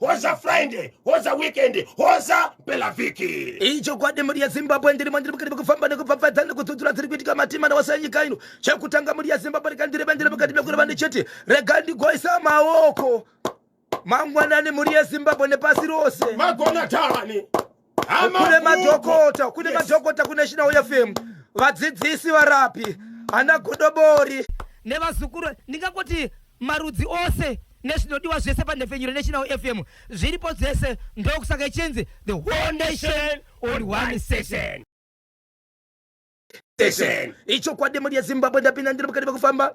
hoza friday hoza weekend hoza pelavhiki ichokwadi mhuri yezimbabwe ndiri mandiri mukati mekufamba nekupfapfadza nekudzudzura dziri kuitika matima nawose enyika ino chekutanga mhuri yezimbabwe rega ndiri vendiri mukati mekureva ndichiti rega ndigoisa maoko mangwanani mhuri yezimbabwe nepasi rose magona tani kune madhokota kune madhokota kunational fm vadzidzisi varapi ana godobori nevazukuru ndingangoti marudzi ose nezvinodiwa zvese panhepfenyuro national fm zviripo dzese ndokusaka ichinzi the whole nation on one session ichokwadi mhuri yezimbabwe ndapinda ndiri mukati mekufamba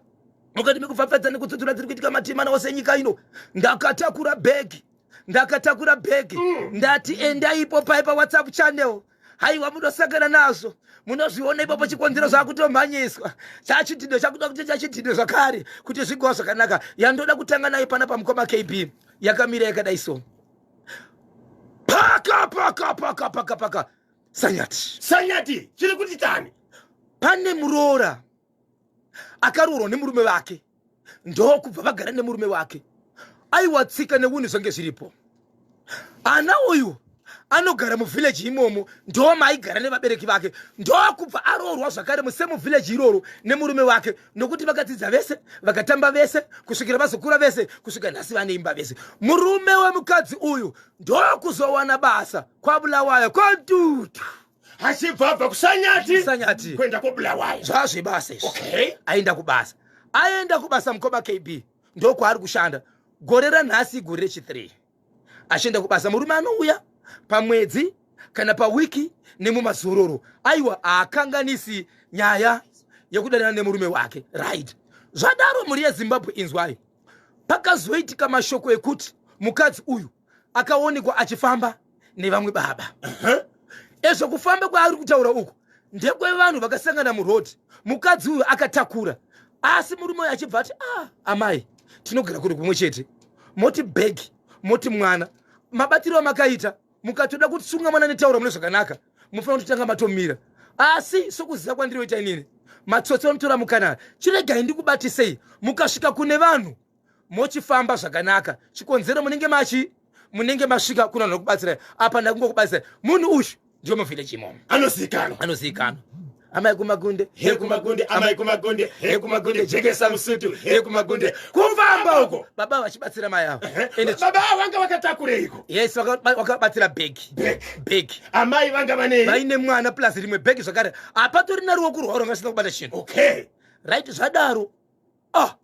mukati mekufafadza nekutsudzura dziri kuitika matimana ose enyika ino ndakatakura bhegi ndakatakura bhegi mm. ndati endaipo pai pawhatsapp channel haiwa munosangana nazvo munozviona ipapo chikonzero zvakutomhanyiswa chachidhido chakuda kuti chachidhido zvakare kuti zvigowa zvakanaka yandoda kutanga nayo pana pamukoma kb yakamira yakadai so paka paka paka paka paka sanyati sanyati chiri kuti tani pane muroora akaroorwa nemurume vake ndokubva vagara nemurume wake aiwa tsika neunhu zvange zviripo ana uyu anogara muvhileji imomo ndo maaigara nevabereki vake ndokubva aroorwa zvakare musemuvhileji iroro nemurume wake nokuti vakadzidza vese vakatamba vese kusvikira vazokura vese kusvika nhasi vane imba vese murume wemukadzi uyu ndokuzowana basa kwabulawayo kodutu achibva abva kusanyati sanyati kuenda kwabulawayo zvazvebasa izvi okay. aenda kubasa aenda kubasa mukoma kb ndokwaari kushanda gore ranhasi igore rechi3 achienda kubasa murume anouya pamwedzi kana pawiki nemumazororo aiwa haakanganisi nyaya yekudanana nemurume wake right zvadaro mhuri yezimbabwe inzwai pakazoitika mashoko ekuti mukadzi uyu akaonekwa achifamba nevamwe baba ezvo kufamba kwaari kutaura uku ndekwevanhu vakasangana muroad mukadzi uyu akatakura asi murume uyu achibva ati ah, amai tinogara kuri kumwe chete moti bhegi moti mwana mabatiro amakaita mukatoda kutsunga mwana netaura mune zvakanaka mufanira kutotanga matomira asi sokuziva kwandiroita inini matsotsi vanotora mukanana chiregai ndikubatisei mukasvika kune vanhu mochifamba zvakanaka chikonzero munenge machi munenge masvika kuna vanhu vanokubatsirai apa ndakungokubatsirai munhu uyu ndiwo muvhileji imomo anozivikanwa anozivikanwa amai kumagunde he kumagunde amai kumagunde he kumagunde jekesa musutu he kumagunde kufamba uko baba vachibatsira mai avo baba avo vanga vakatakureiko yes vakabatsira bhegi bhegi amai vanga vane vaine mwana plus rimwe bhegi zvakare hapatorina ruoko rwavo ranga sina kubata chinhu okay right zvadaro ah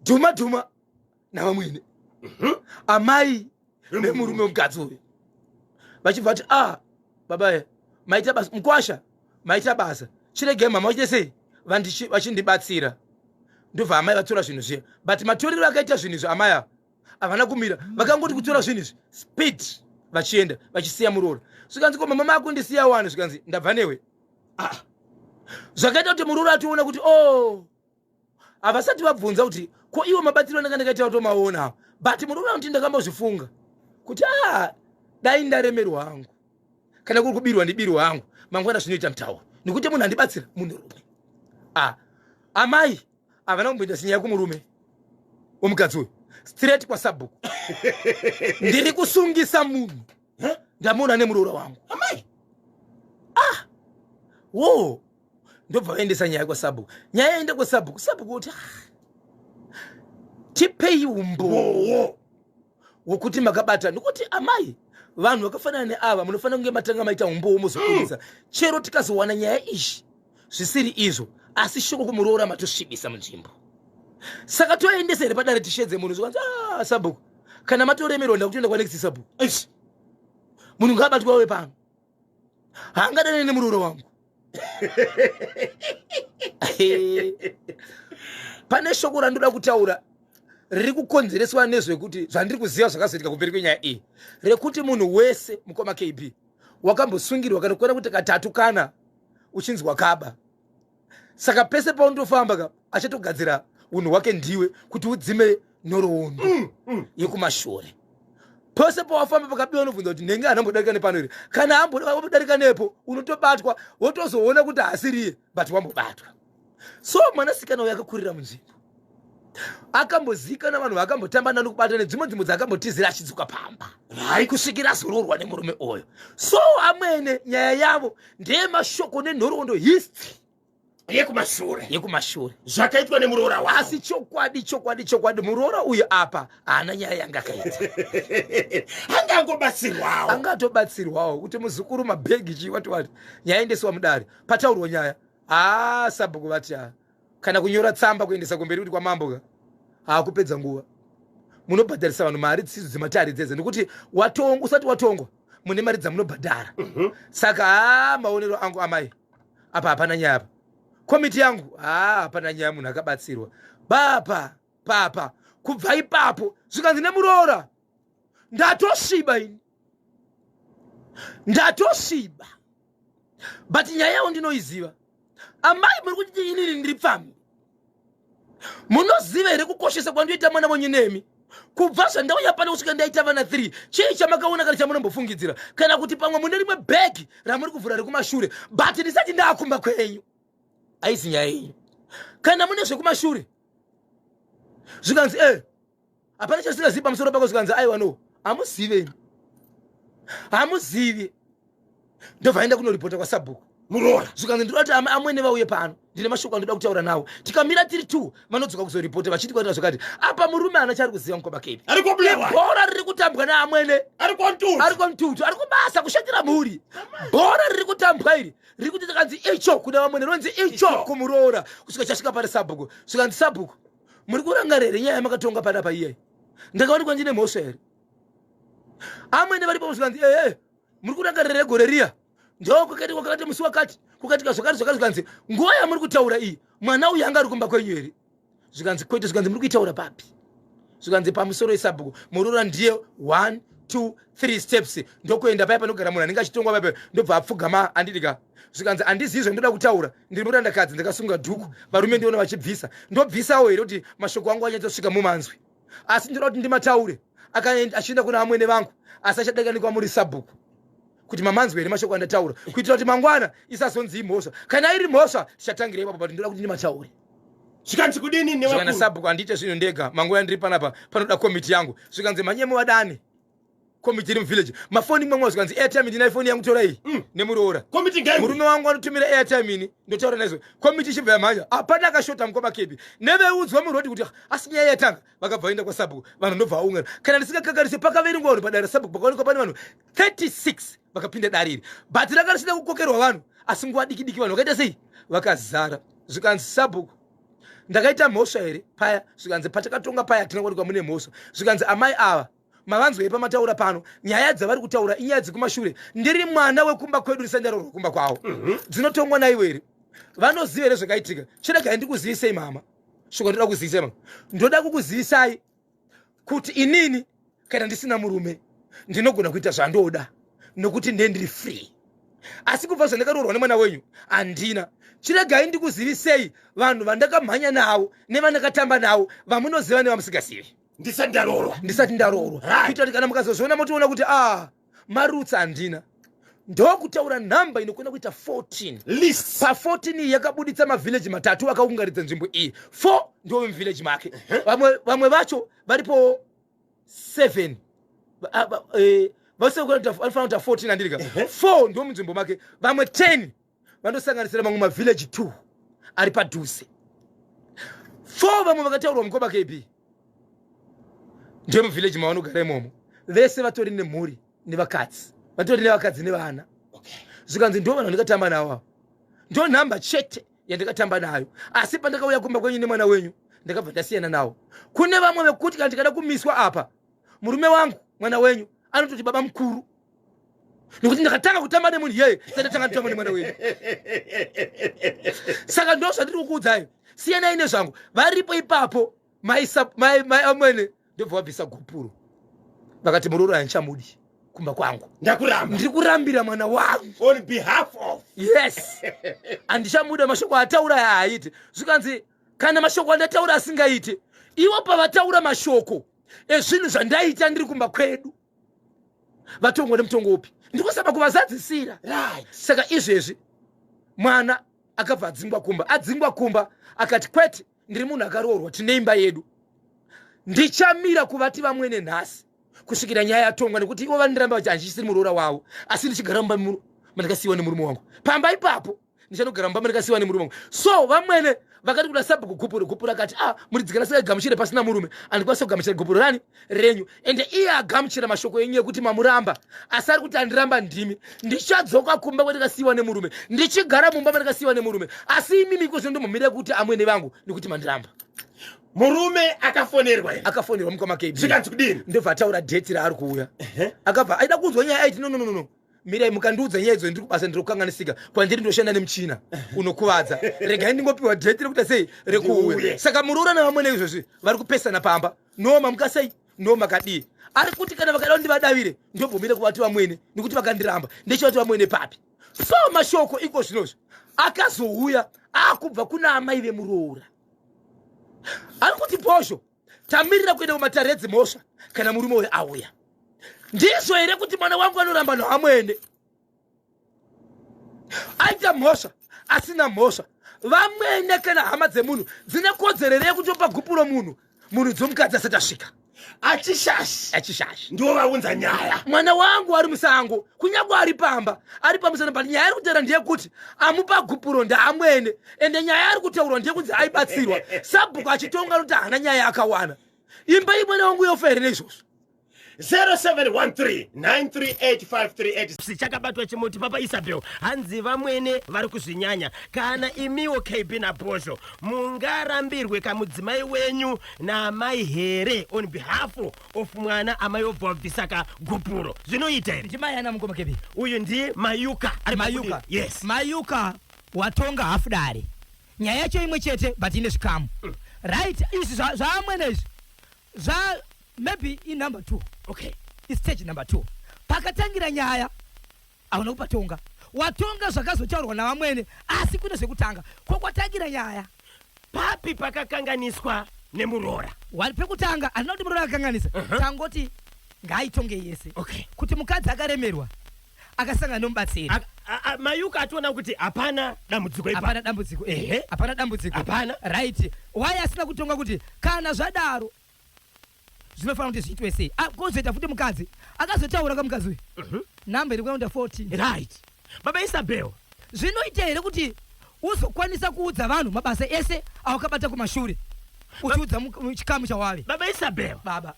dhuma dhuma navamwene mhm. amai nemurume mukadzi uyu vachibva vati a ah, baba maita basa mukwasha maita basa chirege mama vachite sei vachindibatsira ndobva amai vatora zvinhu zviya but matorero akaita zvinhu izvi amai ava havana kumira vakangoti kutora zvinhu izvi speed vachienda vachisiya muroora zvikanzi ko mama makundisiya wani zvikanzi ndabva newe ah. zvakaita kuti muroora ationa kuti o oh, havasati vabvunza kuti ko iwo mabatsiro anenge ndakaita kutomaona awo but munoona kuti ndakambozvifunga kuti a dai ndaremerwa hangu kana kuri kubirwa ndibirwa hangu mangwana zvinoita mutauro nekuti munhu andibatsira munhurume a amai havana kumboita sinyaya kumurume womukadzi uyu straight kwasabhuku ndiri kusungisa munhu ndamuona nemuroora wangu amai ah wo ndobva vaendesa nyaya kwasabhuku nyaya yaenda kwasabhuku sabhuku woti ah, tipei umbowo wokuti makabata nokuti amai vanhu vakafanana neava munofanira kunge matanga maita umbowo mozokurisa chero tikazowana nyaya izvi zvisiri izvo asi shoko kumuroora matosvibisa munzvimbo saka toendesa here padare tishedze munhu zvikanzi ah, sabhuku kana matoremerwa ndakutoenda kwanext sabhuku munhu ngaabatwa wepano haangadane nemuroora wangu pane shoko randoda kutaura riri kukonzereswa nezvekuti zvandiri kuziva zvakazoitika kumberi kwenyaya iyi rekuti munhu wese mukoma kb wakambosungirwa kana kuona kuti katatu kana uchinzwa kaba saka pese paunotofamba ka achatogadzira unhu hwake ndiwe kuti udzime nhorowondo mm, mm. yekumashure pose pawafamba pakabiwa unobvunza kuti ndenge anambodarika nepano here kana ambodarika nepo unotobatwa wotozoona kuti haasiriye but wambobatwa so mwanasikana uyo akakurira munzvimbo akamboziikana vanhu vakambotamba nani kubata nedzimwe nzvimbo dzakambotizira achidzoka pamba hai kusvikira azoroorwa nemurume oyo so amwene nyaya yavo ndeyemashoko nenhoroondo history yekumashure yekumashure zvakaitwa nemuroora wa asi chokwadi chokwadi chokwadi muroora uyu apa haana nyaya yanga akaita anga angobatsirwawo anga atobatsirwawo kuti muzukuru mabhegi chii wati wati nyaya endesiwa mudare pataurwa nyaya haa sabhuku vati haa kana kunyora tsamba kuendesa kumberi kuti kwamambo ka haakupedza nguva munobhadharisa vanhu mari dzisidzo dzematare dzedze nekuti watongwa usati watongwa mune mari dzamunobhadhara mhm. saka haa maonero angu amai apa hapana nyaya apa komiti yangu haa hapana nyaya munhu akabatsirwa bapa papa kubva ipapo zvikanzi nemuroora ndatosviba ini ndatosviba but nyaya yavo ndinoiziva amai muri kuti inini ndiri pfambi munoziva here kukoshesa kwandoita mwana wenyu nemi kubva zvandauya pano kusvika ndaita vana 3 chii chamakaona kana chamunombofungidzira kana kuti pamwe mune rimwe bhegi ramuri kuvhura rekumashure but ndisati ndaakumba kwenyu aisi nyaya yenyu kana mune zvekumashure zvikanzi e eh, hapana chasingazivi pamusoro pako zvikanzi aiwa no hamuzive hamuzivi ndobva aenda kunoripota kwasabhuku muroora zvikanzi ndinoda kuti amwene vauye pano ndine mashoko andoda kutaura nawo tikamira tiri t vanodzoka kuzoripota vachiti kwatira zvakati apa murume ana chaari kuziva mukoma kepi bhora riri kutambwa neamwene ari kontutu ari kubasa kushandira mhuri bhora riri kutambwa iri riri kuti takanzi icho kuna vamwene rinonzi icho kumuroora kusvika chasvika pari sabhuku zvikanzi sabhuku muri kurangarira here nyaya yamakatonga pada pa iyayi ndakaonekwa ndine mhosva here amwene varipo muzvikanzi ee muri kurangarira here gore riya ndo kwakati kwakati musi wakati kukatika zvakati zvakati zvikanzi nguva yamuri kutaura iyi mwana uyu anga ari kumba kwenyu here zvikanzi kwete zvikanzi muri kuitaura papi zvikanzi pamusoro esabhuku murora ndiye one two three steps ndokuenda paya panogara munhu anenge achitongwa paipa ndobva apfugama andidika zvikanzi handizivi zvandoda kutaura ndiri murandakadzi ndakasunga dhuku varume ndiona vachibvisa ndobvisawo here kuti mashoko angu anyatsosvika mumanzwi asi ndoda kuti ndimataure achienda kuna amwene vangu asi achadakanikwa muri sabhuku kuti mamanzwi here mashoko andataura kuitira kuti mangwana isazonzi imhosva kana iri mhosva zvichatangira ipapo but ndoda kuti ndimataure zvikanzi kudini nevakana sabhuku handiite zvinhu ndega mangwana ndiri panapa panoda komiti yangu zvikanzi mhanyemo vadane komiti iri muvillage mafoni imwe mwe zvikanzi airtime ndina ifoni yangu tora iyi mm. nemuroora komiti ngai murume wangu anotumira airtime ini ndotaura naizvo komiti ichibva yamhanya hapana akashota mukoma kebi neveudzwa muroad kuti ah, asi nyaya yatanga vakabva vaenda kwasabhuku vanhu ndobva vaungana kana ndisingakakarise pakaverengwa vanhu padare sabhuku pakaonekwa pane vanhu 36 vakapinda dare iri bhati ranga risina kukokerwa vanhu asi nguva diki diki vanhu vakaita sei vakazara zvikanzi sabhuku ndakaita mhosva here paya zvikanzi patakatonga paya hatina kuwanikwa mune mhosva zvikanzi amai ava mavanzwei pamataura pano nyaya dzavari kutaura inyaya dzekumashure ndiri mwana wekumba kwedu ndisandaro rwekumba kwavo mhm. dzinotongwa naivo here vanoziva here zvakaitika chiregai ndikuzivisei mama shoko ndoda kuzivisai mama ndoda kukuzivisai kuti inini kana ndisina murume ndinogona kuita zvandoda nokuti ndiye ndiri free asi kubva zvandakaroorwa nemwana wenyu handina chiregai ndikuzivisei vanhu vandakamhanya navo nevandakatamba navo vamunoziva nevamusingazivi ndisati ndaroorwa ndisati ndaroorwa kuita kuti kana mukazozviona motiona kuti a ah, marutsi handina ndokutaura nhamba inokona kuita 14 list pa14 iyi yakabuditsa mavhillaji matatu akaungaridza nzvimbo iyi 4 ndo vemuvhillaji make vamwe, vamwe vacho varipo 7 vanofanira kuita 14 andirika 4 ndo munzvimbo make vamwe 10 vanosanganisira mamwe mavhillaji two ari padhuze four vamwe vakataurwa mukoma kb ndiyo muvhillaji mavanogara imomo vese vatori nemhuri nevakadzi vatori nevakadzi nevana zvikanzi ndo vanhu vandikatamba navo avo ndo nhamba chete yandikatamba nayo asi pandakauya kumba kwenyu nemwana wenyu ndakabva ndasiyana nawo kune vamwe vekuti kana ndikada kumiswa apa murume wangu mwana wenyu anototi baba mukuru nekuti ndakatanga kutamba nemunhu iyeye sandatanga nditamba nemwana wenyu saka ndo zvandiri kukuudzai siyanai nezvangu varipo ipapo maamwene ndobva wabvisa gupuro vakati muroora yanchamudi kumba kwangu ndakuramba ndiri kurambira mwana wangu on behalf of yes andichamuda mashoko ataura yaaite zvikanzi kana mashoko andataura asingaite ivo pavataura mashoko ezvinhu zvandaita ndiri kumba kwedu vatongwa nemutongo upi ndikusaba kuvazadzisira right. saka izvezvi mwana akabva adzingwa kumba adzingwa kumba akati kwete ndiri munhu akaroorwa tine imba yedu ndichamira kuvati vamwene nhasi kusvikira nyaya yatongwa nekuti ivo vandiramba vachi handichisiri muroora wavo asi ndichigara mumba mandikasiyiwa nemurume wangu pamba ipapo ndichanogara mumba mandikasiwa nemurume wangu so vamwene vakati kuda sabhuku gupuro gupuro akati a ah, muridzi sei gamuchire pasina murume andikwanisa kugamuchira gupuro rani renyu ende iye agamuchira mashoko enyu ekuti mamuramba asi ari kuti andiramba ndimi ndichadzoka kumba kwandikasiwa nemurume ndichigara mumba mandikasiwa nemurume asi imimi iko zvino ndomumire kuti amwene vangu nekuti mandiramba murume akafonerwa akafonerwa mukoma kd zvikanzi kudini ndobva ataura dheti raari kuuya akabva aida kunzwa nyaya aiti no no no no mirai mukandiudza nyaya idzo ndiri kubasa ndiri kukanganisika kwandiri ndoshanda nemuchina unokuvadza regai ndingopiwa date rekuita sei rekuuya saka muroora nevamwene izvozvi vari kupesana pamba no mamuka sei no makadii ari kuti kana vakada kundivadavire ndobvumire kuvati vamwene nekuti vakandiramba ndechivati vamwene papi so mashoko iko zvinozvo akazouya akubva kuna amai vemuroora ari kuti bhozho tamirira kuenda kumatare edzimhosva kana murume uyo auya ndizvo here kuti mwana wangu anoramba noamwene aita mhosva asina mhosva vamwene kana hama dzemunhu dzine kodzero here yekutopa gupuro munhu munhu dzomukadzi asati asvika achishashi achishashi ndiwo vaunza nyaya mwana wangu ari musango kunyange ari pamba ari pamusana but nyaya iri kutaura ndeyekuti amupa gupuro ndaamwene ende nyaya ari kutaurwa ndekunzi aibatsirwa sabhuku achitonga noti haana nyaya akawana imba imwene wangu yofa here neizvozvo 0713938538 chakabatwa chimuti papa isabel hanzi vamwene vari kuzvinyanya kana imiwo kb naposho mungarambirwe kamudzimai wenyu naamai here on behalf of mwana amai obva wabvisa ka gupuro zvinoita here ndimai ana mukoma kb uyu ndi mayuka ari mayuka yes mayuka Watonga half dare. Nyaya yacho imwe chete but ine zvikamu. Right, izvi zva- zvaamwene izvi. Zva maybe in number 2. Okay. It's stage number 2. Pakatangira nyaya hauna kupatonga. Watonga zvakazotaurwa navamwene asi kune zvekutanga. Ko kwatangira nyaya. Papi pakakanganiswa nemuroora? Wani pekutanga handina kuti muroora akakanganisa. Uh-huh. Tangoti ngaaitongei yese. Okay. Kuti mukadzi akaremerwa akasangana nomubatsiri Ak- a- a- mayuka ationa kuti hapana dambudziko ipa hapana dambudziko Ehe. ehe hapana dambudziko Hapana. right why asina kutonga kuti kana zvadaro zvinofanira kuti zviitwe sei Ah, kozoita futi mukadzi akazotaura kamukadzi uyu Mhm. namba iri kuenda 14 right baba isabel zvinoita here kuti uzokwanisa kuudza vanhu mabasa ese awakabata kumashure uchiudza mu- mu- chikamu chawave baba isabel baba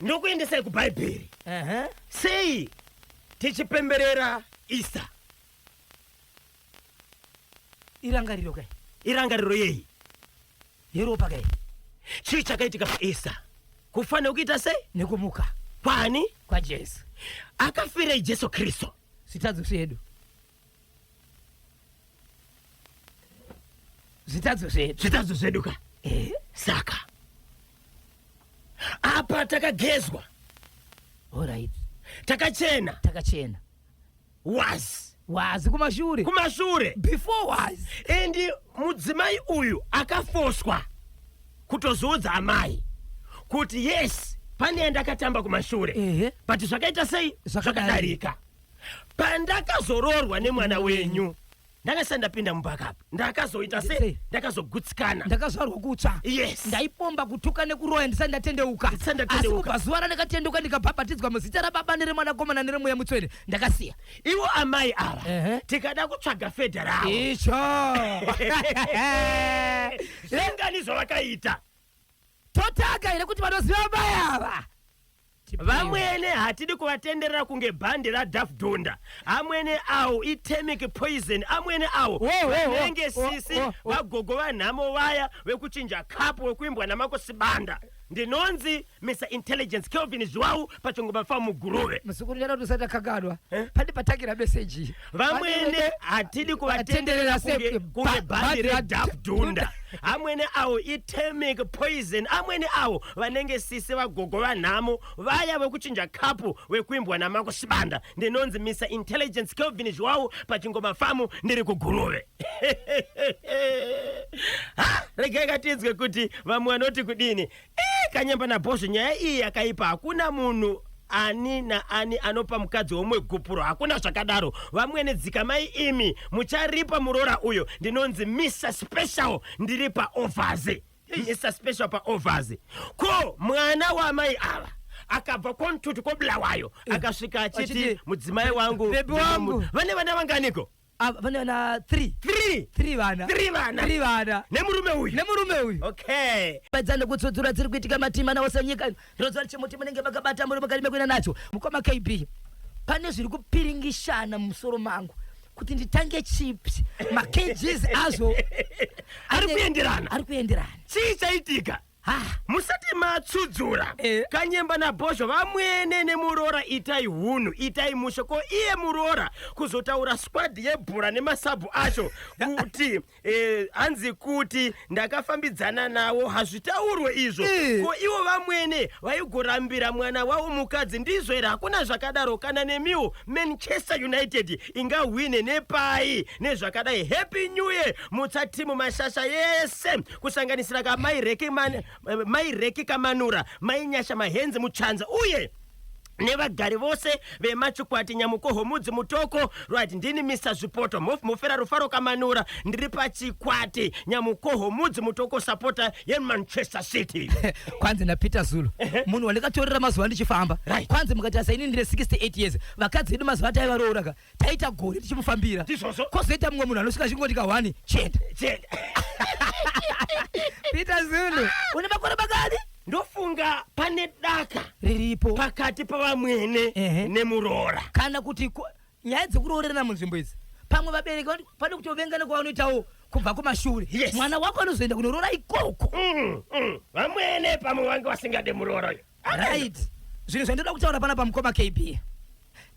ndokuendesai kubhaibheri uh -huh. sei tichipemberera easter irangariro kai irangariro yei yeropa kai chii chakaitika paeaster kufanira kuita sei nekumuka kwani kwajesu akafirei jesu kristu sitadzosi yedu zvitadzo zvedu zvitadzo zvedu ka eh. saka apa takagezwa orit takachena takachena was was kumashure kumashure before was and mudzimai uyu akafoswa kutozoudza amai kuti yes pane yandakatamba kumashure but zvakaita sei zvakadarika pandakazoroorwa nemwana wenyu ndakasati ndapinda mumba kapi ndakazoita se Sei? ndakazogutsikana ndakazvarwa kutsva Yes. ndaipomba kutuka nekuroya ndisati ndatendeuka Ndisati asi ndatendeuka. kubva zuva randakatendeuka ndikabhabhatidzwa muzita rababa neremwanakomana neremweya mutsvene ndakasiya ivo amai ava Ehe. tikada kutsvaga fedha ravo icho zvingani zvavakaita totaka here kuti vanoziva amai ava Vamwene hatidi kuvatenderera kunge bhandi raDaff Donda. Amwene awo itemic poison. Amwene awo vanenge sisi vagogo vanhamo vaya vekuchinja cup wekuimbwa naMako Sibanda. Ndinonzi Mr Intelligence Kelvin Zhuwawu pachingoma famu Guruve. Muzukuru nyara kuti usati akagadwa. Eh? Pandi patakira message. vamwene hatidi kuvatenderera kunge kunge bhandi redhafdunda amwene awo itemic poison amwene awo vanenge sisi vagogo vanhamo vaya vekuchinja kapu vekuimbwa namako shibanda ndinonzi mr intelligence kelvin zviwawu pachingoma famu ndiri kuguruve Ha! regai katinzwe kuti vamwe vanoti kudini Eh, kanyamba nabhozho nyaya iyi yakaipa hakuna munhu ani naani anopa mukadzi womwe gupuro hakuna zvakadaro vamwene dzikamai imi mucharipa muroora uyo ndinonzi mr special ndiri paovhazi mr special paovhazi ko mwana wamai ava akabva kwamtutu kobulawayo akasvika achiti Achiti, mudzimai wangu "Baby wangu." vane vana vanganiko Ah, vane vana three three three vana Three vana. three vana nemurume uyu nemurume uyu okay pedzana kutsudzura dziri kuitika matima nawo senyika ino ndinoziva kuti chimuti munenge makabata muri makarime kuenda nacho mukoma kb pane zviri kupiringishana mumusoro mangu kuti nditange chips makgs azvo Ari kuenderana. ari kuenderana chii chaitika musati matsudzura Eh. kanyemba nabhozho vamwene nemuroora itai hunhu itai mushe ko iye muroora kuzotaura squad yebhora nemasabhu acho kuti eh, hanzi kuti ndakafambidzana nawo hazvitaurwe izvo Eh. ko ivo vamwene vaigorambira mwana wavo mukadzi ndizvo here hakuna zvakadaro kana nemiwo manchester united ingahwine nepai nezvakadai happy new year mutsatimu mashasha yese kusanganisira ka mai reki, man, mai reki kamanura mai nyasha mahenzi mutsvanza uye nevagari vose vemachikwati nyamukoho mudzi mutoko right ndini mr zvipoto mof mufera rufaro kamanura ndiri pachikwati nyamukoho mudzi mutoko sapota yemanchester city kwanzi napeter zulu munhu wandikatorera mazuva ndichifamba Right. kwanzi mukati asaini ndine 68 years vakadzi vedu mazuva ataivaroora ka taita gore tichimufambira Ndizvozvo. kozoita mumwe munhu anosvika achingoti kahwani chete Chete. peter zulu une makore makani ndofunga pane daka riripo pakati pavamwene Ehe. nemuroora kana kuti ku- nyaya dzekuroorerana munzvimbo idzi pamwe vabereki vano- pane kutovengana kwavanoitawo kubva kumashure Yes. mwana wako anozoenda kunoroora ikoko Mm, mm. vamwene pamwe vange vasingade muroora uyo right zvinhu zvandoda kutaura pana pamukoma kb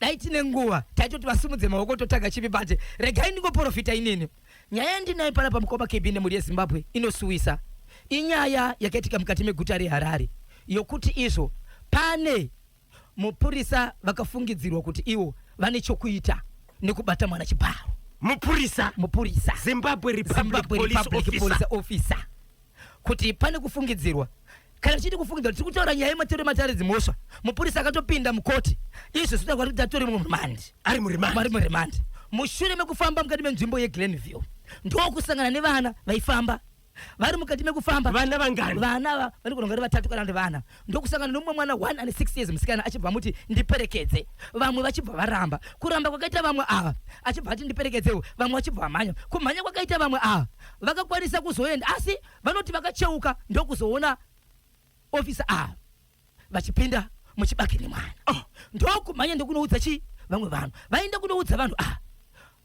dai tine nguva taitoti vasimudze maoko totaga chipi bate regai ndingoporofita inini nyaya yandinayo pana pamukoma kb nemhuri yezimbabwe inosuwisa inyaya yakaitika mukati meguta reharare yokuti izvo pane mupurisa vakafungidzirwa kuti ivo vane chokuita nekubata mwana chibharo mupurisa mupurisa zimbabwe republic zimbabwe police republic officer police officer kuti pane kufungidzirwa Kana tichiti kufungidza kuti tiri kutaura nyaya yemateuro ematare dzimhosva, mupurisa akatopinda mukoti izvo zvinotaura kuti data tori murimandi. Ari murimandi. Ari murimandi. Mushure mekufamba mukati menzvimbo yeGlenview, ndokusangana nevana vaifamba vari mukati mekufamba vana vangani vana ava vanogona kunge vari vatatu kana kuti vana ndokusangana nomumwe mwana one ane six years musikana achibva amuti ndiperekedze vamwe vachibva varamba kuramba kwakaita vamwe ava achibva ati ndiperekedzewo vamwe vachibva vamhanya kumhanya kwakaita vamwe ava vakakwanisa kuzoenda asi vanoti vakacheuka ndokuzoona ofisa ava vachipinda muchibage nemwana oh. ndokumhanya ndokunoudza chii vamwe vanhu vaenda kunoudza vanhu ava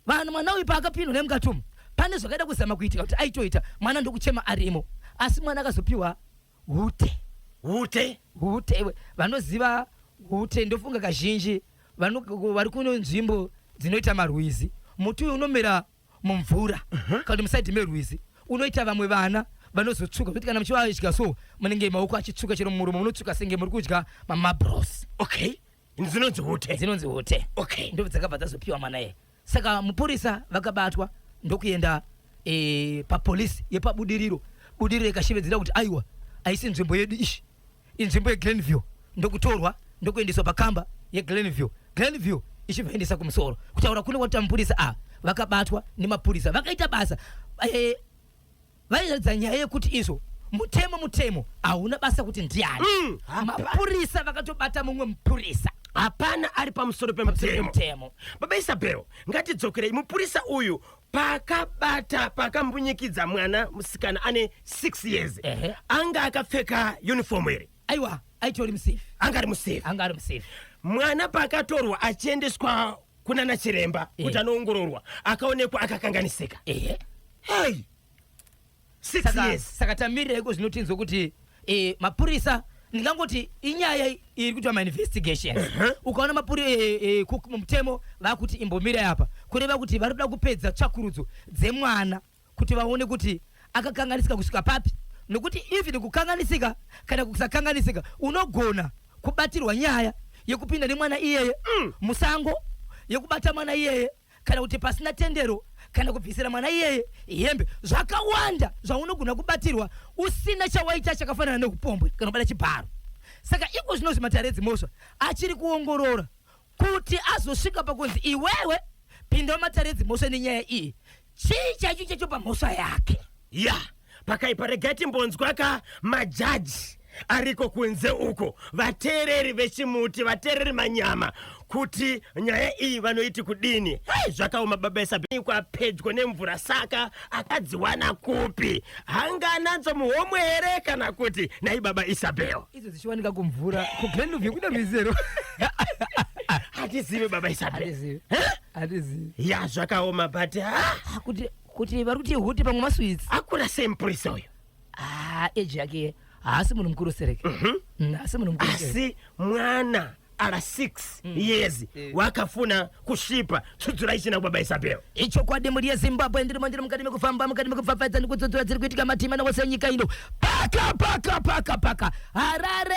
vanhu mwana uyu paakapindwa nemukatumu pane zvakaida kuzama kuitika kuti aitoita mwana ndokuchema arimo asi mwana akazopiwa hute hute hute iwe vanoziva hute ndofunga kazhinji vari kuno nzvimbo dzinoita marwizi muti uyu unomera mumvura kana kuti musaidhi merwizi unoita vamwe vana vanozotsvuka kuti kana muchivadya so munenge maoko achitsvuka chero mumuromo munotsvuka senge muri kudya mamabros okay dzinonzi hute dzinonzi hute okay ndo dzakabva dzazopiwa mwana iye saka mupurisa vakabatwa ndokuenda e, papolisi yepabudiriro budiriro ikashevedzera kuti aiwa haisi nzvimbo yedu ishi inzvimbo yeglenview ndokutorwa ndokuendeswa pakamba yeglenview glenview ichivaendesa kumusoro kutaura kune wati mapurisa ava vakabatwa nemapurisa vakaita basa eh, vairatidza nyaya yekuti izvo mutemo mutemo hauna basa kuti ndiani Mm. mapurisa vakatobata mumwe mupurisa hapana ari pamusoro Pamusoro pemutemo pemutemo. baba isabel ngatidzokerei mupurisa uyu paakabata paakambunyikidza mwana musikana ane 6 years Ehe. anga akapfeka uniform here aiwa aitori musafe anga ari musafe anga ari musafe mwana paakatorwa achiendeswa kunana chiremba kuti Eh. anoongororwa akaonekwa akakanganisika ehe hey Six Saka- years. saka tamirireiko zvino tinzwe kuti eh, mapurisa ndingangoti inyaya i- iri kuitwa mainvestigations ukaona mapuri eh, eh, ku- mutemo vakuti imbomira apa kureva kuti vari kuda kupedza tsvakurudzo dzemwana kuti vaone kuti akakanganisika kusvika papi nokuti even kukanganisika kana kusakanganisika unogona kubatirwa nyaya yekupinda nemwana iyeye musango yekubata mwana iyeye kana kuti pasina tendero kana kubvisira mwana iyeye hembe zvakawanda zvaunogona kubatirwa usina chawaita chakafanana neupombwe kana kubata chibharo saka iko zvino zvimatare edzimhosva achiri kuongorora kuti azosvika pakunzi iwewe pinda mumatare edzimhosva nenyaya iyi chii chaicho chacho pamhosva yake ya yeah. Pakaipa regai timbonzwa ka majaji ariko kunze uko vateereri vechimuti vateereri manyama kuti nyaya iyi vanoiti kudini hei zvakaoma baba isabikwa pedyo nemvura saka akadziwana kupi hangananzo muhomwe here kana kuti nai baba isabel idzo dzichiwanika kumvura kuglenluvie kuda rwizero hatizivi baba isabel hatizivi ya zvakaoma but ha ah, kuti kuti vari kuti huti pamwe maswitsi akura sei mupurisa uyo haa eji yake haasi munhu mukuru sereke mhm. mm, haasi munhu mukuru asi mwana ara 6 mm. years eh. wakafuna kusvipa tsudzura ichina kubaba isabel ichokwadi mhuri yezimbabwe ndiri mandiri mukati mekufamba mukati mekupfapfaidza nekutsudzura dziri kuitika matima newose enyika ino paka paka paka paka harare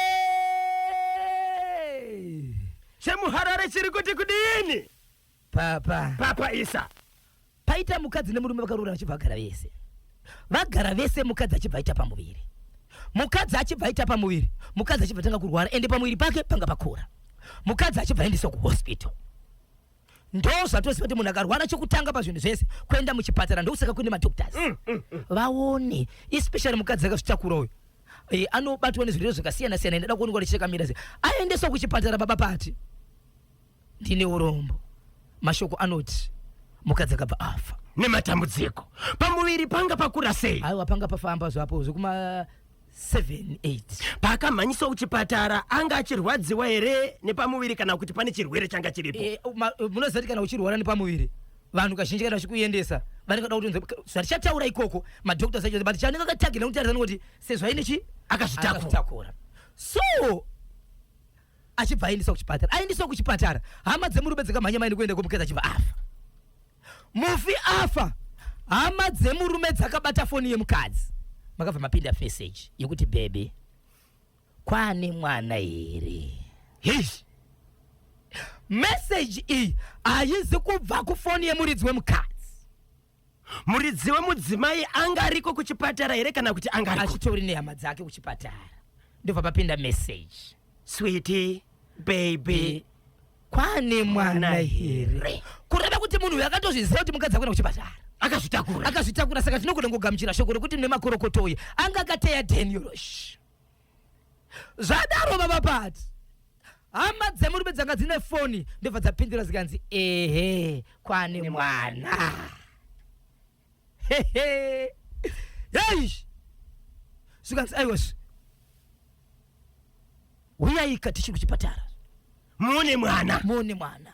chemuharare chiri kuti kudini Papa. Papa Isa. Paita mukadzi nemurume vakarora vachibva vagara vese. Vagara vese mukadzi achibva aita pamuviri. Mukadzi achibva aita pamuviri. Mukadzi achibva tanga kurwara ende pamuviri pake panga pakura. Mukadzi achibva aendeswa kuhospital. Ndoo zvatoziva kuti munhu akarwara chokutanga pazvinhu zvese kuenda muchipatara ndokusaka kune madoctors. Mm, mm, mm. Vaone especially mukadzi akazvitakura uyu. E, anobatwa nezvirwere zvakasiyana siyana enda kuonekwa nechirekamira aendeswa kuchipatara baba pati Ndine urombo. Mashoko anoti mukadzi akabva afa. Nematambudziko pamuviri panga pakura sei? Aiwa panga pafamba zvapo zvekuma 7 8. Paakamhanyiswa kuchipatara anga achirwadziwa here nepamuviri kana kuti pane chirwere changa chiripo? E, ma, munoziva kuti kana uchirwara nepamuviri vanhu kazhinji kana vachikuendesa vanenge vada kuti zvatichataura ikoko madoctors acho but chanenge akatagirira kuti arizani kuti sezvo aine chi akazvitakura so achibva aendeswa kuchipatara aendeswa kuchipatara hama dzemurume dzikamhanya maini kuenda kwemukadzi achibva afa mufi afa hama dzemurume dzakabata foni yemukadzi makabva mapinda feseji yekuti bebe kwane mwana here hish meseji iyi haizi kubva kufoni yemuridzi wemukadzi Muridzi wemudzimai anga ariko kuchipatara here kana kuti anga ariko? Achitori nehama dzake kuchipatara. Ndobva papinda message. Sweetie, baby. Kwane mwana here? Kureva kuti munhu uyu akatozviziva kuti mukadzi akuenda kuchipatara. Akazvitakura. Akazvitakura saka tinogona kugamuchira shoko rokuti mune makorokoto uye anga akateya Daniel. zvadaro baba pati hama dzemurume dzanga dzine foni ndobva dzapindura zikanzi ehe kwane mwana hehe yeish zvikanzi aiwes huyaika tichiri kuchipatara muone mwana muone mwana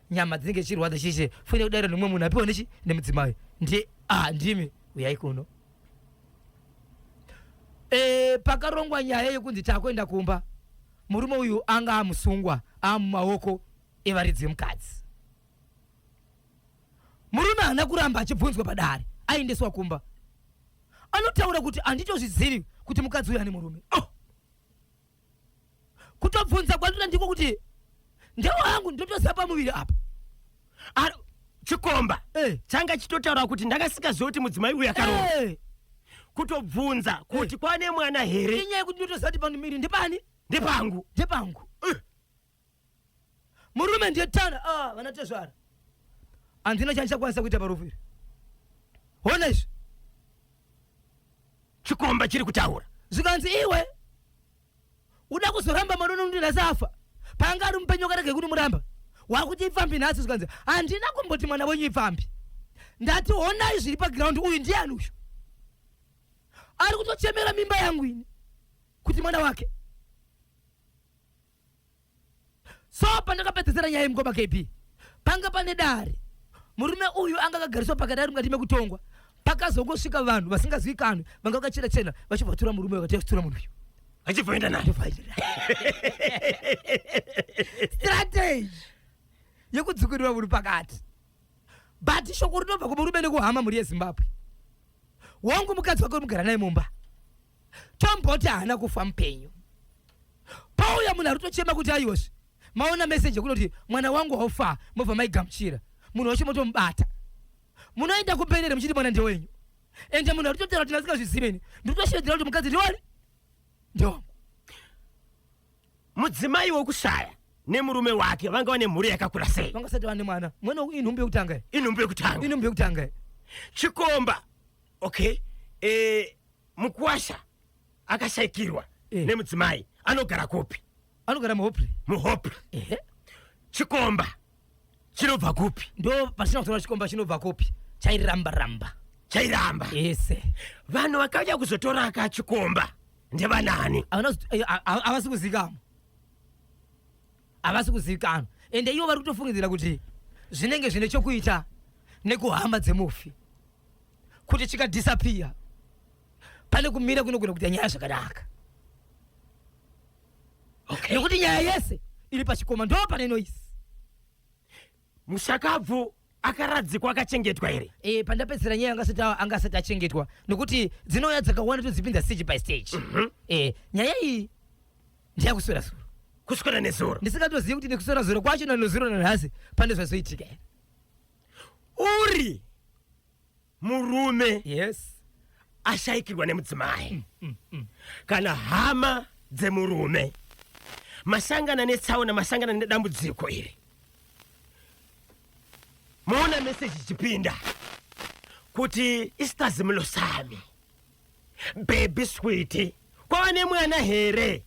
nyama dzinenge dzichirwadza chese fune kudaira nomumwe munhu apiwa nechi nemudzimai ndiye ah ndimi uyai kuno e, pakarongwa nyaya yekunzi takuenda kumba murume uyu anga amusungwa amumaoko evaridzi vemukadzi murume haana kuramba achibvunzwa padare aendeswa kumba anotaura kuti handitozvizivi kuti mukadzi uyu ane murume oh! kutobvunza kwandira ndiko kuti ndewangu ndotosa pamuviri apa Ar- chikomba Eh. changa chitotaura kuti ndakasikaziva kuti mudzimai uyu akaroora Eh, kutobvunza kuti kwane mwana here inyaya yekuti ndotosati pamuviri ndepani ndepangu ndepangu murume ndiye tana ah, vana tezvara handina chandichakwanisa kuita parufu iri hona izvi chikomba chiri kutaura zvikanzi iwe uda kuzoramba mwana unondirasa afa panga ari mupenyu wakarege kuti muramba wakuti ipfambi nhasi zvikanzi handina kumboti mwana wenyu ipfambi ndati honai zviri pagiraundi uyu ndiani uyu ari kutochemera mimba yangu ini kuti mwana wake so pandakapedzesera nyaya yemukoma kb panga pane dare murume uyu anga akagariswa pakadare mukati mekutongwa pakazongosvika vanhu vasingazivikanwi vanga vakachena chena vachibvatura murume vakatiachitura munhu uyu achibvaenda naye strategy yekudzukirira munhu pakati but shoko rinobva kumurume nekuhama mhuri yezimbabwe wangu mukadzi wake unogara naye mumba tomboti haana kufa mupenyu pauya munhu arutochema kuti aiwazve maona meseji yekunoti mwana wangu waufaa mobva maigamuchira munhu wacho motomubata munoenda kumberere muchiti mwana ndewenyu ende munhu aritotaura kuti ndasingazviziveni ndikutosheedzera kuti mukadzi ndiwani ndewangu mudzimai wokushaya nemurume wake vanga vane mhuri yakakura sei vanga sati vane mwana mwana inhumbu yekutanga inhumbu yekutanga inhumbu yekutanga chikomba okay eh, Mukwasha akashaikirwa Eh. nemudzimai anogara kupi? anogara muhopri Muhope. ehe Chikomba chinobva kupi? ndo pasina kutora chikomba chinobva kopi chairamba ramba Chairamba. ese Vanhu vakauya kuzotora aka chikomba ndevanani? Havana kuzi- eh, a- a- havasi kuzikamwa havasi kuzivikanwa ende ivo vari kutofungidzira kuti zvinenge zvine chokuita nekuhama dzemufi kuti chikadhisapiya pane kumira kunogona kuita nyaya zvakanaka okay. nekuti nyaya yese iri pachikoma ndo pane noise mushakabvu akaradzikwa akachengetwa here e, pandapedzera nyaya angasati angasati achengetwa nokuti dzinouya dzakawanda todzipinza stage by stage mm -hmm. e, nyaya iyi ndiyakuswera zuro kuswera nezuro ndisingatozivi kuti nekuswera zuro kwacho nanozuro nanhasi pane zvazoitika uri murume yes ashaikirwa nemudzimai mm, mm, mm. kana hama dzemurume masangana netsaona masangana nedambudziko iri moona meseji ichipinda kuti isitazimilo sami bebi switi kwava nemwana here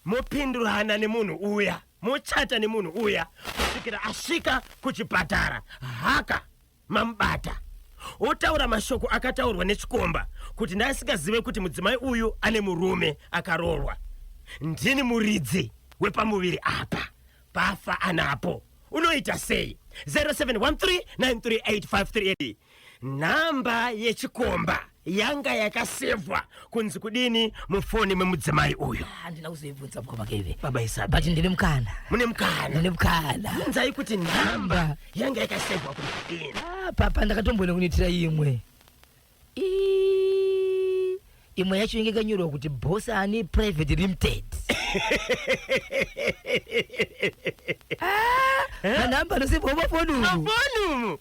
mopindurana nemunhu uya mochata nemunhu uya kusvikira asvika kuchipatara haka mamubata otaura mashoko akataurwa nechikomba kuti ndaasingazive kuti mudzimai uyu ane murume akaroorwa ndini muridzi wepamuviri apa pafa anapo unoita sei 0713938538 nhamba yechikomba yanga yakasevhwa kunzi kudini mufoni memudzimai uyu handina kuzoibvunza mukoma keve baba isabi but ndine mukana mune mukana ndine mukana bvunzai kuti nhamba yanga yakasevhwa kunzi kudini Ah, papa ndakatomboenda kunoitira imwe Ii, imwe yacho inge kanyorwa kuti bosani private limited Ah, manhamba anosevhwa mafoni umu mafoni umu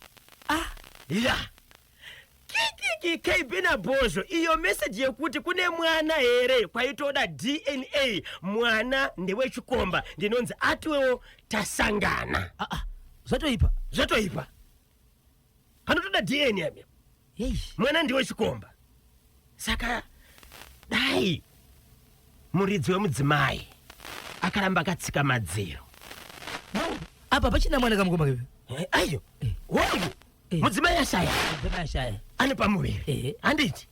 Ah. ya kikiki kb nabhozho iyo meseji yekuti kune mwana here kwaitoda dna mwana ndewechikomba ndinonzi atiwewo tasangana ah, ah, zvatoipa zvatoipa anotoda dna amia Yeish. mwana ndiwe chikomba saka dai muridzi wemudzimai akaramba akatsika madziro apa pachina mwana kamukomba keve Eh, ayo woyo Eh. mudzimai ashaya Mudzimai ashaya. ane pamuviri Ehe. handiti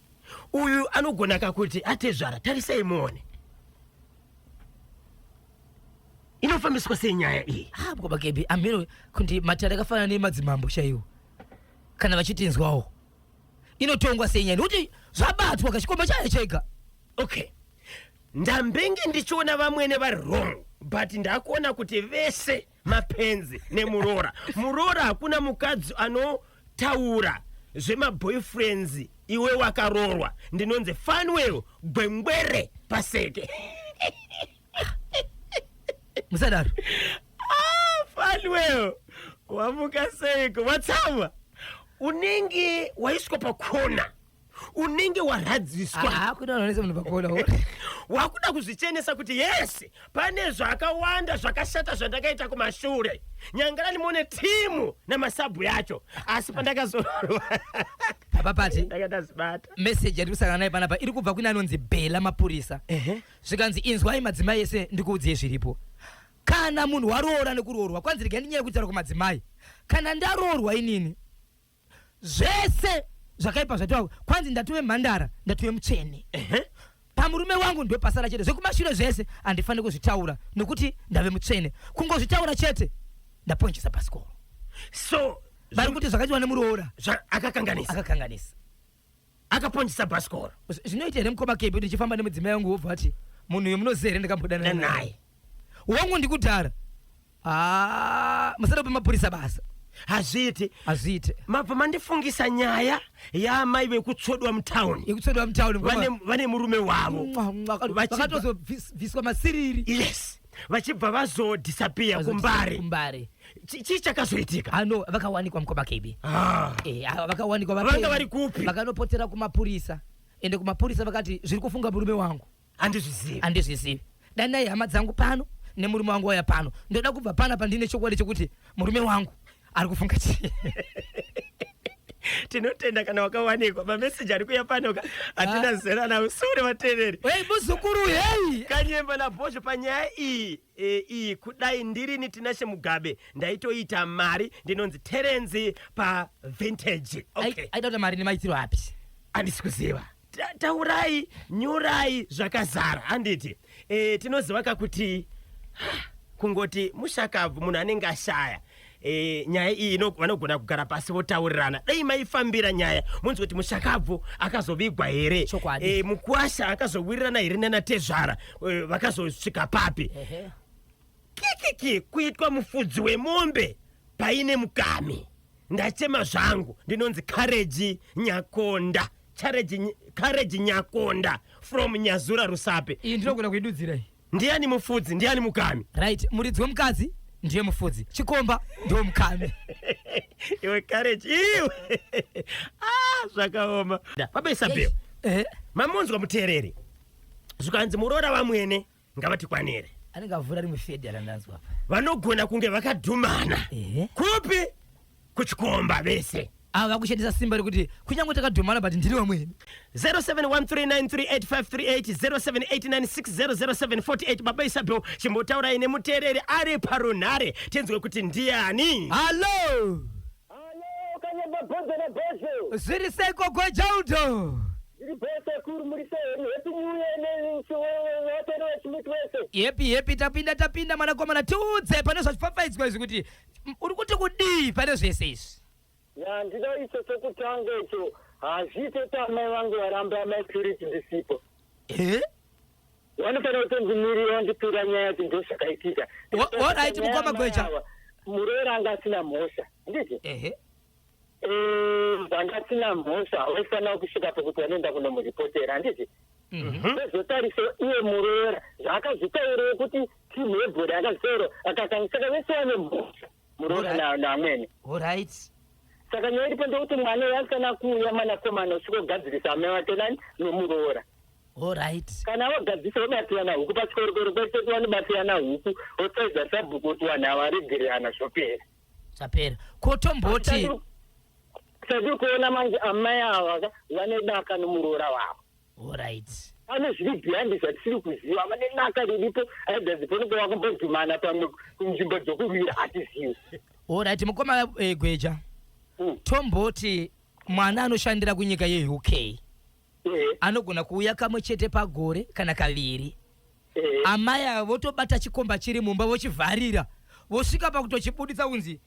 uyu anogona kakuti atezvara tarisai muone inofambiswa sei nyaya iyi Ah, baba kebi amiro kuti matare akafanana nemadzimambo chaiwo kana vachitinzwawo inotongwa sei nyaya nekuti zvabatwa kachikomba chayo chega okay ndambenge ndichiona vamwene vari wrong but ndakuona kuti vese mapenzi nemuroora muroora hakuna mukadzi anotaura zvemaboyfriends iwe wakaroorwa ndinonzi fanwell gwengwere paseke musadaro ah, fanwell wamuka seiko watsamwa unenge waiswa pakona unenge warhadziswa ah, wakuda kuzvichenesa kuti yes pane zvakawanda zvakashata zvandakaita kumashure nyangarani mone timu namasabhu yacho asi pandakazorwa apapati ndakatazibata meseji yatiri kusangana naye panapa iri kubva kune anonzi bhela mapurisa zvikanzi inzwai madzimai ese ndikuudziye zviripo kana munhu waroora nekuroorwa kwanzi regai ndinyaya yekutaura kumadzimai kana ndaroorwa inini zvese zvakaipa zvatova kwanzi ndatove mhandara ndatove mutsvene Ehe. pamurume wangu ndopasara chete zvekumashure zvese handifaniri kuzvitaura nokuti ndave mutsvene kungozvitaura chete ndaponjesa pasikoro So vari kuti zvakaitwa nemuroora zva- akakanganisa. akakanganisa akaponjisa bhasikoro zvinoita here mukoma kepi kuti ndichifamba nemudzimai wangu wobva ati munhu uyo munoziva here ndakambodana naye wangu ndikudhara ah, musada kupa mapurisa basa hazviiti hazviite mabva mandifungisa nyaya yaamai vekutsvodwa mutown yekutsvodwa mutown vane murume wavo vakatozobviswa masiriri yes vachibva vazo disappear kumbare kumbare chii chakazoitika ano vakawanikwa mukoma kb ah. eh, ah, vakawanikwa vanga vari kupi vakanopotera kumapurisa ende kumapurisa vakati zviri kufunga murume wangu andizvizivi andizvizivi danai hama dzangu pano nemurume wangu waya pano ndoda kubva pana pandine chokwadi chekuti murume wangu ari kufunga chii tinotenda kana wakawanikwa mameseji ari kuya panoka hatina ah. zera navo sure vatereri hei muzukuru hei kanyemba nabhozho panyaya iyi e, iyi kudai ndirini tinashe mugabe ndaitoita mari ndinonzi terenzi pavintage okay. aida kuti mari nemaitiro api handisi kuziva Ta- taurai nyurai zvakazara handiti e, tinoziva ka kuti kungoti mushakabvu munhu anenge ashaya e, nyaya iyi ino- vanogona kugara pasi votaurirana dai maifambira nyaya munzi kuti mushakabvu akazovigwa here Chokwadi. e, mukwasha akazowirirana here nanatezvara e, vakazosvika papi Ehe. kikiki kuitwa mufudzi wemombe paine mukami Ndachema zvangu ndinonzi Courage Nyakonda. Courage Ny- Courage Nyakonda from Nyazura Rusape. iyi ndinogona kuidudzira iyi Ndiani mufudzi, ndiani mukami? right muridzi wemukadzi ndiye mufudzi chikomba ndiwo mukami Iwe Courage iwe. ah, zvakaoma. Baba Isabel, eh, mamunzwa muteereri. Zvikanzi muroora wamwene. ngavatikwanire anenge avhura rimwe fedhi arandanzwa apa vanogona kunge vakadhumana kupi kuchikomba vese ava vakushandisa simba rekuti kunyange takadhumana but ndiri vamweni 0713938538 baba isabel chimbotaurai nemuteereri ari parunhare tinzwe kuti ndiani hallo Halo kanyamba bhodza na bhodza. Zviri sei gogo Jaldo? Ndiri bhodza kuru muri sei? Happy new year ne vatana vachimiti vese. Happy happy tapinda tapinda mwanakomana tiudze pane zvachipfapfaidzwa izvi kuti mm, uri kuti kudii pane zvese izvi? Ya ndida icho chokutanga icho. Hazviite tamai vangu varamba amai purity ndisipo. Eh? Wanofanira kutonzi mirira wandipira nyaya yacho ndozvakaitika. Alright mukoma Gweja. Muroora anga asina mhosva. Ndizvo? Ehe. Vanga asina mhosva waifanira kusvika pokuti wanoenda kunomuripotera handizvi? zvotarisa mhm. iye muroora zvaakazvitaurei kuti team yebhora akazvitaura akakangisaka vese vane mhosva muroora na- naamwene orit saka nyaya iripo ndekuti mwana uyo asikana kuuya mwanakomana usikogadzirisa amai wake nani nomuroora orit kana wagadzisa wobatirana huku pachikorokoro kwese kuti wanobatirana huku wotsaidza sabhuku kuti vanhu ava varegererana zvopera zvapera ko tomboti chatiri kuona manje amai ava ka vanedaka nomuroora wavo Alright. pane zviri beyond zvatisiri kuziva vane naka riripo aidazi panenge vakambodhumana pamwe kunzvimbo dzokurwira hatizivi orit mukoma eh, gweja hmm. tomboti mwana anoshandira kunyika yeuk eh. anogona kuuya kamwe chete pagore kana kaviri eh. amai avo votobata chikomba chiri mumba vochivharira vosvika pakutochibuditsa kunzi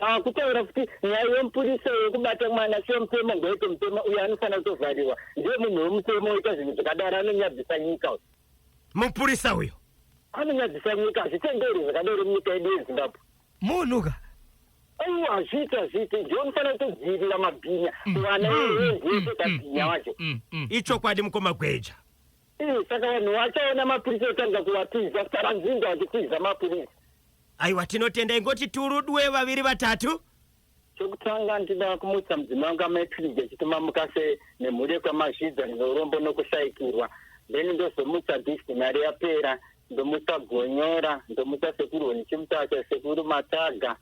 Paakutaura kuti nyaya yemupurisa yekubata mwana semutemo ngoite mutemo uyo anofanira kutovharirwa ndiye munhu wemutemo oita zvinhu zvakadaro anonyadzisa nyika uyo. Mupurisa uyo. Anonyadzisa nyika hazvitenderi zvakadaro munyika yedu yeZimbabwe. Munhu ka. Aiwa hazviiti hazviiti ndiye unofanira kutodzivirira mabhinya vana verenzi wese kabhinya wacho. Ichokwadi mukoma Gweja. Ii, saka vanhu vachaona mapirisi otanga kuvatiza saranzinda vachitiza mapirisi aiwa tinotenda ingoti turudwe vaviri vatatu chokutanga ndinoda kumutsa mudzimai wangu amaepiriji achituma mukase nemhuri yekwamazhidza neurombo nokushaikirwa then ndozomutsa disti mari yapera ndomutsa gonyora ndomutsa sekuru honichimutacha sekuru mataga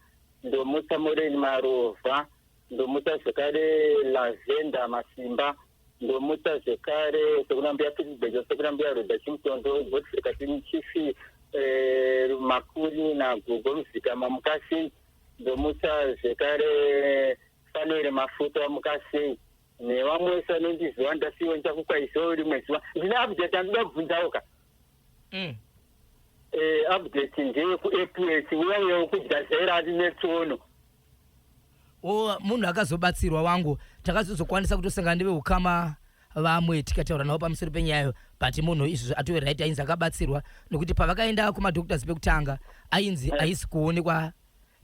ndomutsa moreni marovha ndomutsa zvekare lavenda masimba ndomutsa zvekare sekunambuya fisibejo sekunambuya roda chimutondo godfrika chifi eh, makuri nagogo ruzika mamukasi ndomutsa zvekare fanere mafuta mukasi nevamwe wese anondiziva ndasiwe ndichakukwaisawo rimwe zuva ndine update andida kubvunzawo ka mm. eh, update ndeyekuaph uyauyawo kujazera ati netsono o munhu akazobatsirwa wangu takazozokwanisa kutosangana neveukama vamwe tikataura navo pamusoro penyayo but munhu izvozvo atove right ainzi akabatsirwa nokuti pavakaenda kumadoctors pekutanga ainzi haisi kuonekwa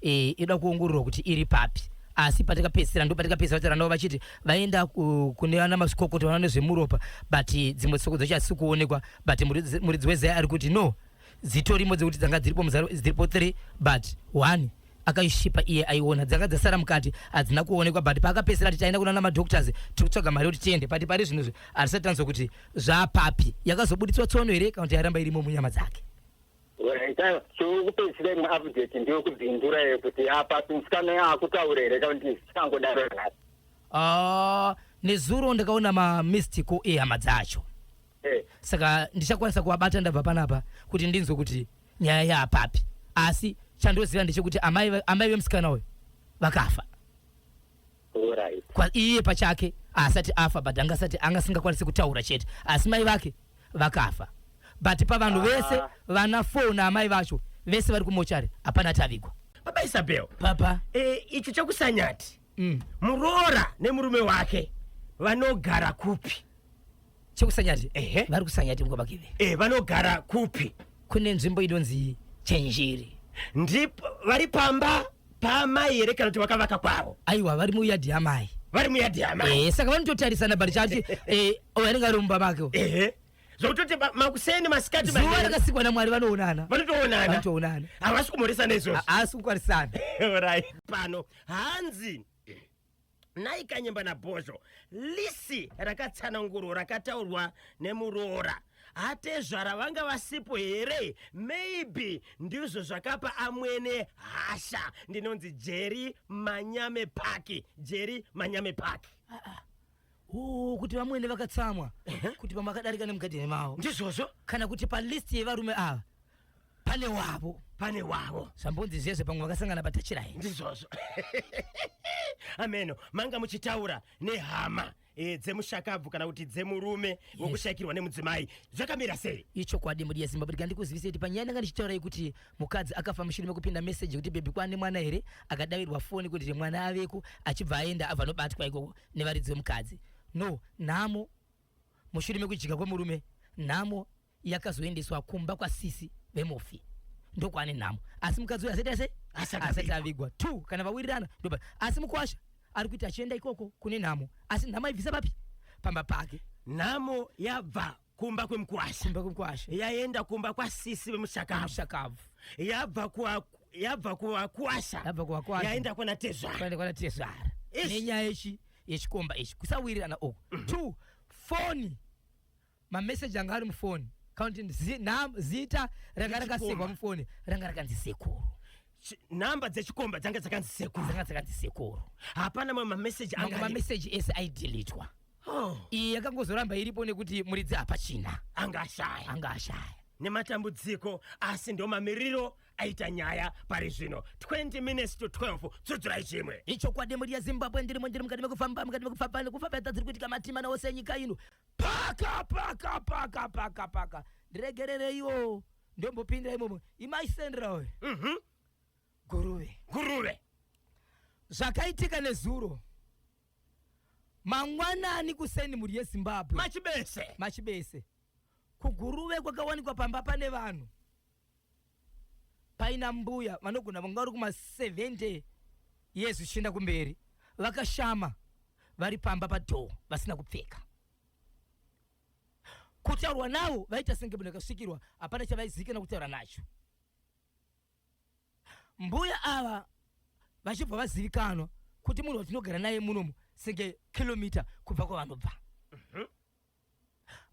e, ida kuongororwa kuti iri papi asi patakapedzisira ndo patakapedzisira vataura navo vachiti vaenda ku- kune vana mazvikokota vanoona nezvemuropa but dzimwe tsoko dzacho hasi kuonekwa but muridzi muridzi wezai ari kuti no dzitorimo dzekuti dzanga dziripo muzaro dziripo three but one akaishipa iye aiona dzanga dzasara mukati hadzina kuonekwa but paakapesera ati taenda kunana madoctors tiri kutsvaga mari yekuti tiende but pari zvinhu izvi hatisati tanzwa kuti zvapapi yakazobuditswa tsono here kana kuti yaramba irimo munyama dzake Raita, chokupedzisira imwe update ndeyokubvindura yekuti apa musikana yaakutaura here kana kuti zvikangodaro nhasi Ah, nezuro ndakaona mamistico ehama dzacho Eh. saka ndichakwanisa kuvabata ndabva panapa kuti ndinzwe kuti nyaya yaapapi asi chandoziva ndechekuti amai ve- amai vemusikana uyu vakafa Alright. Kwa- iye pachake haasati afa but anga asati anga asingakwanisi kutaura chete asi mai vake vakafa but pavanhu Ah. vese vana four naamai vacho vese vari kumochari hapana atavigwa baba isabel papa e, icho chakusanyati mm. muroora nemurume wake vanogara kupi chekusanyati ehe vari kusanyati mukobakeve e eh, vanogara kupi kune nzvimbo inonzi chenjeri ndipo vari pamba paamai here kana kuti vakavaka kwavo aiwa vari muyadhi yamai vari muyadhi yamai e, saka vanototarisana bari chati e, anenge ari mumba make ehe zvokutoti makuseni masikati zuva rakasikwa namwari vanoonana vanotoonana vanotoonana havasi kumhoresana izvozvo haasi kukwarisana pano hanzi Nhai Kanyemba naBhozho, lisi rakatsanangurwa rakataurwa nemuroora atezvara vanga vasipo here? Maybe ndizvo zvakapa amwene hasha. Ndinonzi Jeri Manyame Paki, Jeri Manyame Paki. Ooh, kuti vamwene vakatsamwa kuti pamakadarika nemugadheni mavo Ndizvozvo? kana kuti palist yevarume ava pane wavo pane wavo zvambonzi zvezve pamwe vakasangana patachirai ndizvozvo ameno manga muchitaura nehama e, dzemushakabvu kana kuti dzemurume yes. wokushakirwa nemudzimai zvakamira sei ichokwadi mudi yezimbabwe ndika ndikuzivisa kuti panyaya ndanga ndichitaura yekuti mukadzi akafa mushure mekupinda meseji yekuti bhebhi kwane mwana here akadavirwa foni kuti mwana aveko achibva aenda abva anobatwa ikoko nevaridzi vemukadzi no nhamo mushure mekujika kwemurume nhamo yakazoendeswa kumba kwasisi vemufi ndokwaane nhamo asi mukadzi uyu asaita se asati avigwa two kana vawirirana ndopa asi mukwasha ari kuita achienda ikoko kune nhamo asi nhamo aibvisa papi pamba pake nhamo yabva kumba kwemukwasha kumba kwemukwasha yaenda kumba kwasisi vemushakabvu mushakabvu yabva kwa yabva kuvakwasha yabva kuvakwasha yaenda kwana tezvara kwaenda kwana tezvara nenyaya yechi yechikomba ichi kusawirirana uku mm -hmm. two foni mamessage anga ari mufoni counting zi, nam, zita ranga rakasekwa mufoni ranga rakanzi sekuru nhamba dzechikomba dzanga dzakanzi sekuru dzanga dzakanzi sekuru hapana mamwe mameseji mamwe mameseji ese aidilitwa oh. iyi yakangozoramba iripo nekuti muridzi hapachina anga ashaya anga ashaya nematambudziko asi ndo mamiriro aita nyaya pari zvino 20 minutes to 12 tsudzurai chimwe ichokwadi mhuri yezimbabwe ndirimo ndiri mukati mekufamba mukati mekufamba nekufamba yatadziri kuitika matima naose enyika ino paka paka paka paka paka ndiregerereiwo ndombopinda imomo imaisendera uyu Mhm. guruve Nguruve. zvakaitika nezuro mangwanani kuseni mhuri yezimbabwe Machibese. machibese kuguruve kwakawanikwa pamba pane vanhu Paina mbuya vanogona vanga vari kuma 70 years zvichienda kumberi vakashama vari pamba padoor vasina kupfeka. Kutaurwa navo vaita senge munhu akasvikirwa hapana chavaizikana kutaura nacho. Mbuya ava vachibva vazivikanwa kuti munhu watinogara naye munomu senge kilometer kubva kwavanobva.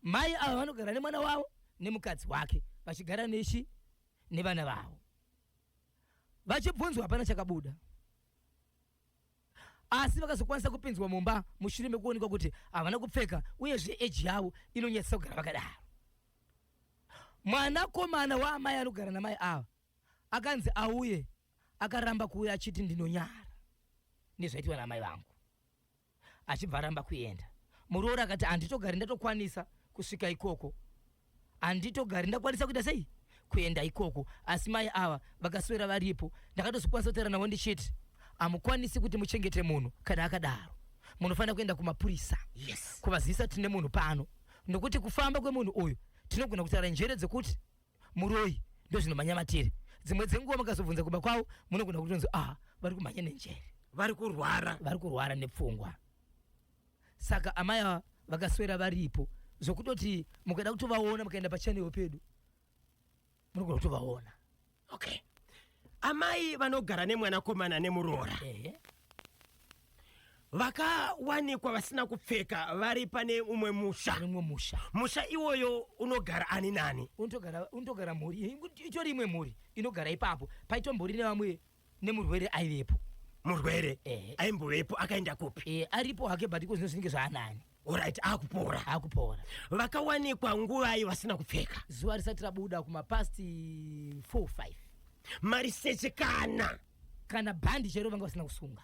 Mai ava vanogara nemwana wavo nemukadzi wake vachigara nechi nevana vavo. Vachibvunzwa hapana chakabuda asi vakazokwanisa kupinzwa mumba mushure mekuonekwa kuti havana kupfeka uyezve eji yavo inonyadzisa kugara vakadaro. Mwanakomana waamai anogara namai ava akanzi auye akaramba kuuya achiti ndinonyara nezvaitwa naamai vangu. achibva aramba kuenda muroora akati handitogari ndatokwanisa kusvika ikoko handitogari ndakwanisa kuita sei kuenda ikoko asi mai ava vakaswera varipo ndakatozokwanisa kutaura navo ndichiti hamukwanisi kuti muchengete munhu kana akadaro munofanira kuenda kumapurisa yes. kuvazivisa tine munhu pano nokuti kufamba kwemunhu uyu tinogona kutaura njere dzekuti muroyi ndozvinomhanya matiri dzimwe dzenguva makazobvunza kumba kwavo munogona kutonzi ah vari kumhanya nenjere vari kurwara vari kurwara nepfungwa saka amai ava vakaswera varipo zvokutoti mukada kutovaona mukaenda pachanel pedu munogona kutovaona okay amai vanogara nemwanakomana nemuroora ehe vakawanikwa vasina kupfeka vari pane umwe musha mumwe musha musha iwoyo unogara ani nani unotogara unotogara mhuri i- i- itori imwe mhuri inogara ipapo paitombori nevamwe nemurwere aivepo murwere Ehe. aimbovepo akaenda kupi e, aripo hake but iko zvinozvinenge zvaanani orit akupora akupora vakawanikwa nguvai vasina kupfeka zuva risati rabuda kumapast 45 mariseche kana kana bhandi chero vanga vasina kusunga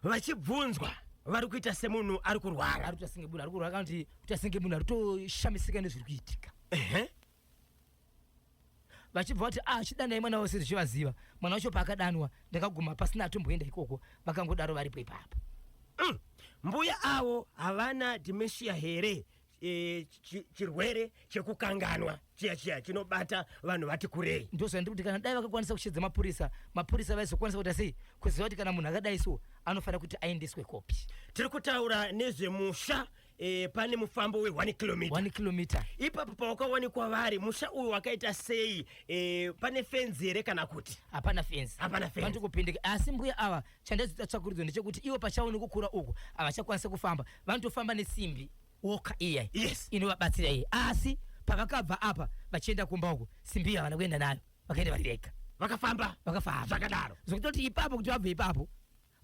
vachibvunzwa vari kuita semunhu ari kurwara ari kuita senge munhu ari kurwara kana kuti kuita senge munhu ari kutoshamisika nezviri kuitika vachibva vati ah chidanai mwana wavo sezvo chivaziva mwana wacho paakadanwa ndakaguma pasina atomboenda ikoko vakangodaro varipo ipapa mm. mbuya avo havana dementia here e, chirwere chekukanganwa chiya chiya chinobata vanhu vati kurei ndozvandiri kuti kana dai vakakwanisa kushedza mapurisa mapurisa vaizokwanisa kuita sei kuziva kuti kana munhu akadai so anofanira kuti aendeswe kopi tiri kutaura nezvemusha e, pane mufambo we1 km km ipapo pawakawanikwa vari musha uyu wakaita sei e, pane fenzi here kana kuti hapana fenzi hapana fenzi vanoto kupindika asi mbuya ava chandazoita tsvakurudzo ndechekuti ivo pachavo nekukura uku havachakwanisa kufamba vanotofamba nesimbi woka iyai yes. inovabatsira iye asi pavakabva apa vachienda kumba uku simbi yavana kuenda nayo vakaenda varirega vakafamba vakafamba zvakadaro zvokutoti ipapo kuti vabve ipapo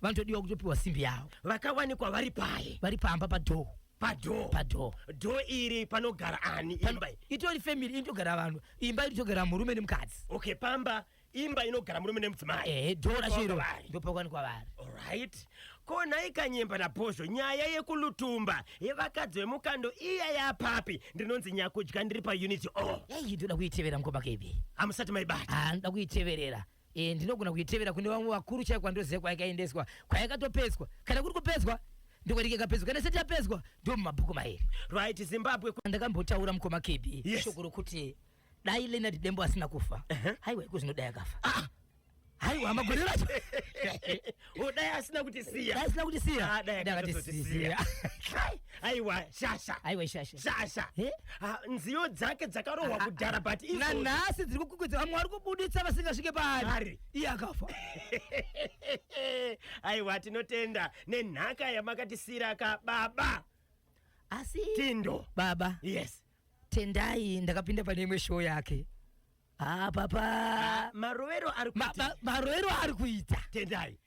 Vanotodiwa kutopiwa simbi yavo. Vakawanikwa vari paye. Vari pamba padoor. Padoor. Padoor. Door iri panogara ani imba iyi? Itori family inotogara vanhu. Imba inotogara murume nemukadzi. Okay, pamba imba inogara murume nemudzimai. Eh, door racho iro. Ndopakawanikwa vari. Alright. Ko nhai Kanyemba naBhozho nyaya yekulutumba yevakadzi vemukando iya yapapi? Ndinonzi nyakudya ndiri paunit O. Yayi ndoda kuitevera mukoma Kebhi. Hamusati maibata. Ah, ndoda kuiteverera. Eh, ndinogona kuitevera kune vamwe vakuru chaiko kwandoziva kwayakaendeswa kwayakatopedzwa kana kuri kupedzwa ndiko ndikekapedzwa kana isati yapedzwa ndo mumabhuku mairi right zimbabwe ku- ndakambotaura mukoma kb Yes. shoko rokuti dai lenard dembo asina kufa Ehe. haiwa iko zvinodai akafa haiwa magore racho Oh, dai asina kuti siya. Dai asina kuti siya. Ah, dai akati siya. Aiwa shasha. Aiwa shasha. Shasha. Eh? Ah, nziyo dzake dzakarohwa ah, kudhara but izo. Na nhasi dziri kukukwidza vamwe vari kubuditsa vasingasvike paari. Ari. Iye akafa. Aiwa tinotenda nenhaka yamakatisira ka baba. Asi Tindo. Baba. Yes. Tendai ndakapinda pane imwe show yake. haa papa ah, marovero ari kuita marovero ari kuita tendai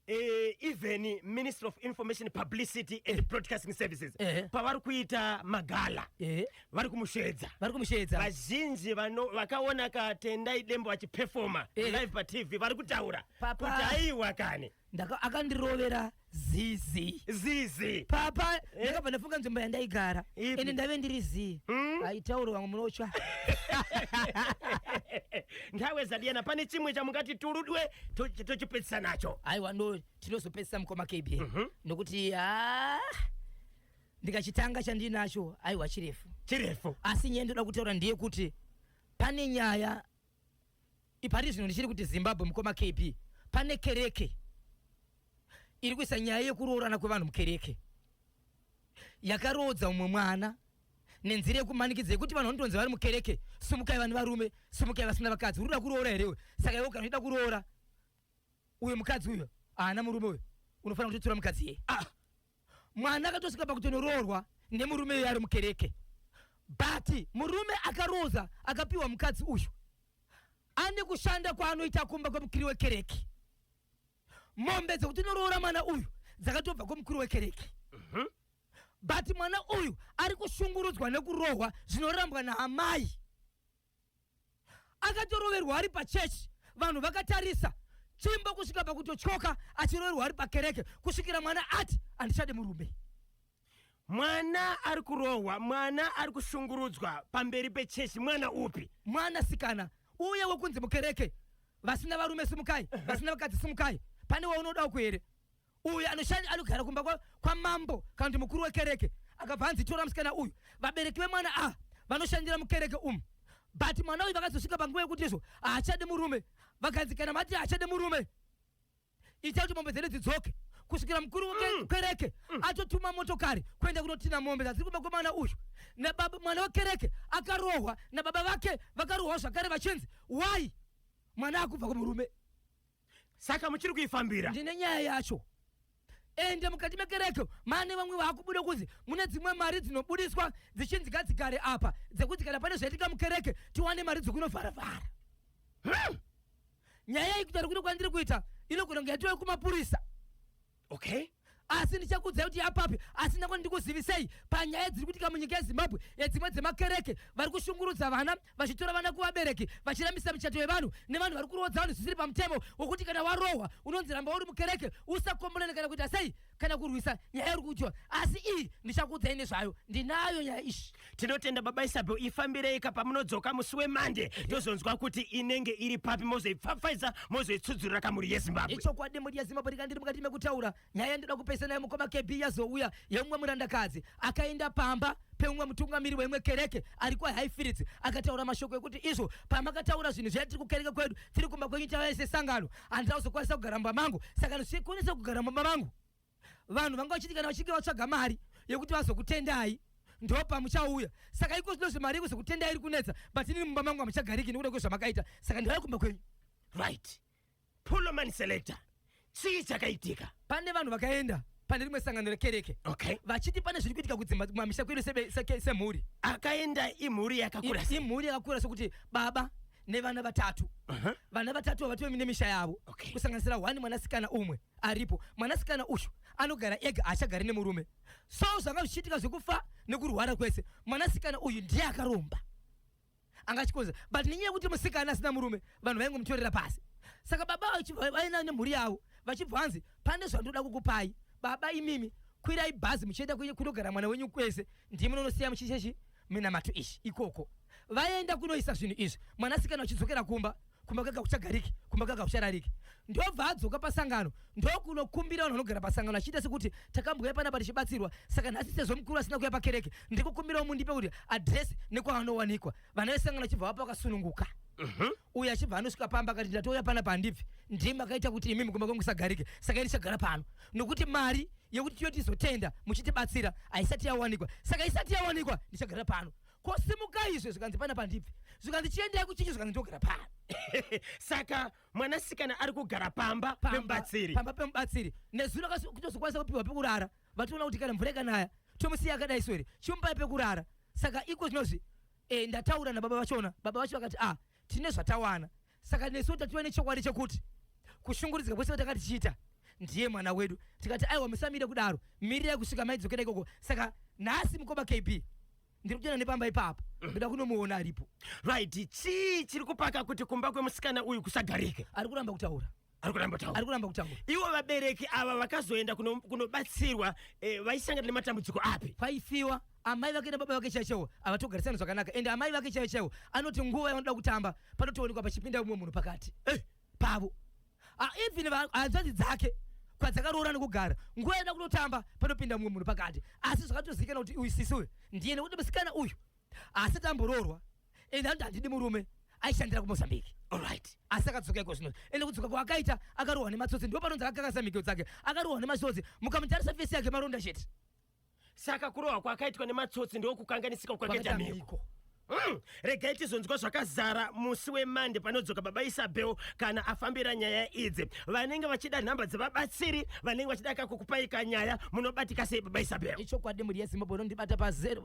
Uh, even minister of information publicity and eh. broadcasting services eh. pavari kuita magala eh. vari kumusheedza vari kumusheedza vazhinji vakaona katendai dembo vachipefoma eh. live patv vari kutaura kuti aiwa kani ndaka akandirovera zizi zizi papa ndakabva ndafunga nzvimbo yandaigara Ipi? ende ndave ndiri zii Mm. aitauro vamwe munotya nhawe zadiyana pane chimwe chamungati turudwe to- tochipedzisa nacho aiwa ndo tinozopedzisa mukoma kb Mhm. nokuti ha ndikachitanga chandinacho aiwa chirefu chirefu asi nyaya ndoda kutaura ndeyekuti pane nyaya Ipari zvino ndichiri kuti Zimbabwe mukoma KB pane kereke iri kuisa nyaya yekuroorana kwevanhu mukereke yakaroodza umwe mwana nenzira yekumanikidza yekuti vanhu vanotonzi vari mukereke sumukai vane varume sumukai vasina vakadzi uri kuda kuroora here uyo saka iwe kana uchida kuroora uyo mukadzi uyo haana murume uyo unofanira kutotura mukadzi yeye ah. mwana akatosvika pakutonoroorwa nemurume uyo ari mukereke but murume akaroza akapiwa mukadzi uyu ane kushanda kwaanoita kumba kwemukiri wekereke mombe dzekuti unoroora mwana uyu dzakatobva kwemukuru wekereke mhm. but mwana uyu ari kushungurudzwa nekurohwa zvinorambwa naamai akatoroverwa ari pachechi vanhu vakatarisa chimbo kusvika pakutotyoka achiroverwa ari pakereke kusvikira mwana ati handichade murume mwana ari kurohwa mwana ari kushungurudzwa pamberi pechechi mwana upi mwana sikana uye wekunzi mukereke vasina varume simukai vasina vakadzi simukai pane waunoda uku here uyu anoshandi anogara kumba kwa- kwamambo kana kuti mukuru wekereke akabva hanzi tora musikana uyu vabereki vemwana a vanoshandira mukereke umu but mwana uyu vakazosvika panguva yekuti izvo haachadi murume vakanzi kana mati haachadi murume ita kuti mombe dzedu dzidzoke kusvikira mukuru wekereke mm. mm. atotuma motokari kuenda kunotina mombe dzadziri kuba kwemwana uyu nababa mwana wekereke akarohwa nababa vake vakarohwa zvakare vachinzi why mwana akubva kumurume saka muchiri kuifambira ndine nyaya yacho ende mukati mekereke mane vamwe vakubuda kunzi mune dzimwe mari dzinobudiswa dzichinzi gadzigare apa dzekuti kana pane zvaitika mukereke tiwane mari dzekunovharavhara hmm. nyaya iyi kutaura kuno kwandiri kuita inogona kunge yatiwa kumapurisa okay asi ndichakuudzai kuti yapapi asi ndangoni ndikuzivisei panyaya dziri kuitika munyika yezimbabwe yedzimwe dzemakereke vari kushungurudza vana vachitora vana kuvabereki vachirambisa michato yevanhu nevanhu vari kuroodza vanhu zvisiri pamutemo wokuti kana warohwa unonzi ramba uri mukereke usakombolene kana kuita sei kana kurwisa nyaya yauri kuudziwa asi iyi ndichakuudzai nezvayo ndinayo nyaya izvi tinotenda baba isabel ifambireika pamunodzoka musi wemande tozonzwa kuti inenge iri papi mozoipfapfaidza mozoitsudzurira kamuri yezimbabwe ichokwadi mhuri yezimbabwe rikandiri mukati mekutaura nyaya yandoda kupesa nayo mukoma kb yazouya yemumwe murandakadzi akaenda pamba peumwe mutungamiri weimwe kereke ari kwahighfields akataura mashoko ekuti izvo pamakataura zvinhu zviya tiri kukereke kwedu tiri kumba kwenyu tavai sesangano handina kuzokwanisa kugara mumba mangu saka ndisikwanisa kugara mumba mangu vanhu vanga vachiti kana vachinge vatsvaga mari yekuti vazokutendai ndo pamuchauya saka iko zvino zvemari yekuzokutendai iri kunetsa but inini mumba mangu hamuchagariki nekuda kwezvamakaita saka ndivai kumba kwenyu right Pulloman Selector, chii chakaitika? Pane vanhu vakaenda pane rimwe sangano rekereke okay. vachiti pane zviri kuitika kudzimba kumamisha kwedu semhuri. Akaenda imhuri yakakura, imhuri yakakura sokuti baba nevana vatatu uh -huh. vana vatatu vavatove mine misha yavo okay. kusanganisira hwani mwanasikana umwe aripo mwanasikana uyu anogara ega haachagari nemurume so zvanga zvichiitika zvekufa nekurwara kwese mwanasikana uyu ndiye akaromba anga achikonza but nenyaya yekuti musikana asina murume vanhu vaingomutorera pasi saka baba vainayo nemhuri yavo vachibva vanzi pane zvandoda kukupai baba imimi kwirai bhazi muchienda kunogara mwana wenyu kwese ndimi nonosiya muchichechi minamato ichi ikoko vaenda kunoisa zvinhu izvi mwanasikana vachidzokera kumba kumakaka kuchagariki kumakaka kucharariki ndobva adzoka pasangano ndokunokumbira vanhu vanogara pasangano achiita sekuti takambouya panapa tichibatsirwa saka nhasi sezvo mukuru asina kuya pakereke ndikukumbirawo mundipe kuti adresi nekwavanowanikwa vana vesangano achibva vapa vakasununguka mhm. uye achibva anosvika pamba akati ndatouya pana pandibvi ndiye makaita kuti imi mukuma kwangu sagarike saka ini chagara pano nokuti mari yekuti tiyo tizotenda muchitibatsira haisati yawanikwa saka isati yawanikwa ndichagara pano kosimuka izvo zvikanzi pana pandibvi zvikanzi chiendai kuchinji zvikanzi ndogara pano saka mwanasikana ari kugara pamba pemubatsiri pamba pemubatsiri nezuro kutozokwanisa kupiwa pekurara vatoona kuti kana mvura ikanaya tomusiya akadai swere chimupai pekurara saka iko zvinozvi e, ndataura nababa vachona baba vacho vakati ah tine zvatawana saka nesuwo tativa nechokwadi chekuti kushungurudzika kwese kwatanga tichiita ndiye mwana wedu tikati aiwa musamire kudaro mirirai kusvika maidzokera ikoko saka nhasi mukoma kb ndiri kutoenda nepamba ipapo ndoda kunomuona aripo right chii chiri kupaka kuti kumba kwemusikana uyu kusagarike ari kuramba kutaura ari kuramba kutaura ari kuramba kutaura ivo vabereki ava vakazoenda kuno- kunobatsirwa eh, vaisangana nematambudziko api kwaifiwa amai vake nababa vake chaivo chaivo havatogarisani zvakanaka ende amai vake chaivo chaivo anoti nguva yavanoda kutamba panotoonekwa pachipinda umwe munhu pakati Eh, pavo Ah, even va- hanzvadzi dzake kwadzakaroora nekugara nguva yavanoda kunotamba panopinda umwe munhu pakati asi zvakatozivikanwa kuti uyu sisi uyu ndiye nekuti musikana uyu asi tamburoorwa ende anoti handidi murume aishandira kumozambique olright asi akadzoka iko zvino ende kudzoka kwaakaita akarohwa nematsotsi ndo panonzi akakakasa mhiko dzake akarohwa nemasotsi mukamutarisa fesi yake maronda chete saka kurohwa kwakaitwa nematsotsi ndokukanganisika kwakaita mhiko Mm. regai tizonzwa zvakazara musi wemande panodzoka baba isabel kana afambira nyaya idzi vanenge vachida nhamba dzevabatsiri vanenge vachida kakukupaika nyaya munobatika sei baba isabel ichokwadi mhuri yezimbabwe unondibata pazero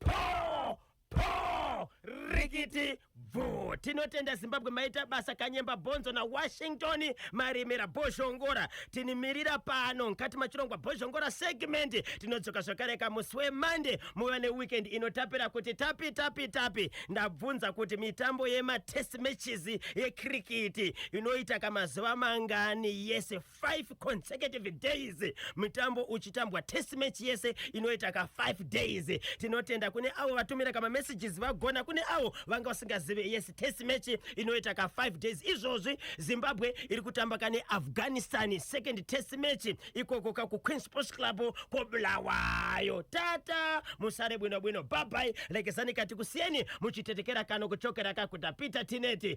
po po rikiti bvuu tinotenda zimbabwe maita basa kanyemba bhonzo nawashington marimira bhozhongora tinimirira pano mukati machirongwa bhozhongora segmendi tinodzoka zvakare kamusi wemande muva neweekend inotapira kuti tapi tapi tapi ndabvunza kuti mitambo yematest matches yekrikiti inoita kamazuva mangani yese 5 consecutive days mitambo uchitambwa test match yese inoita ka 5 days tinotenda kune avo vatumira kama messages vagona kune avo vanga vasingazive yes test match inoita ka 5 days izvozvi zimbabwe iri kutamba kane afghanistan second test match ikoko ka kuqueen sports club kobulawayo tata musare bwino bwino babai lekezani kati kusiyeni muchitetekera kano kuchokera kakuda peter tineti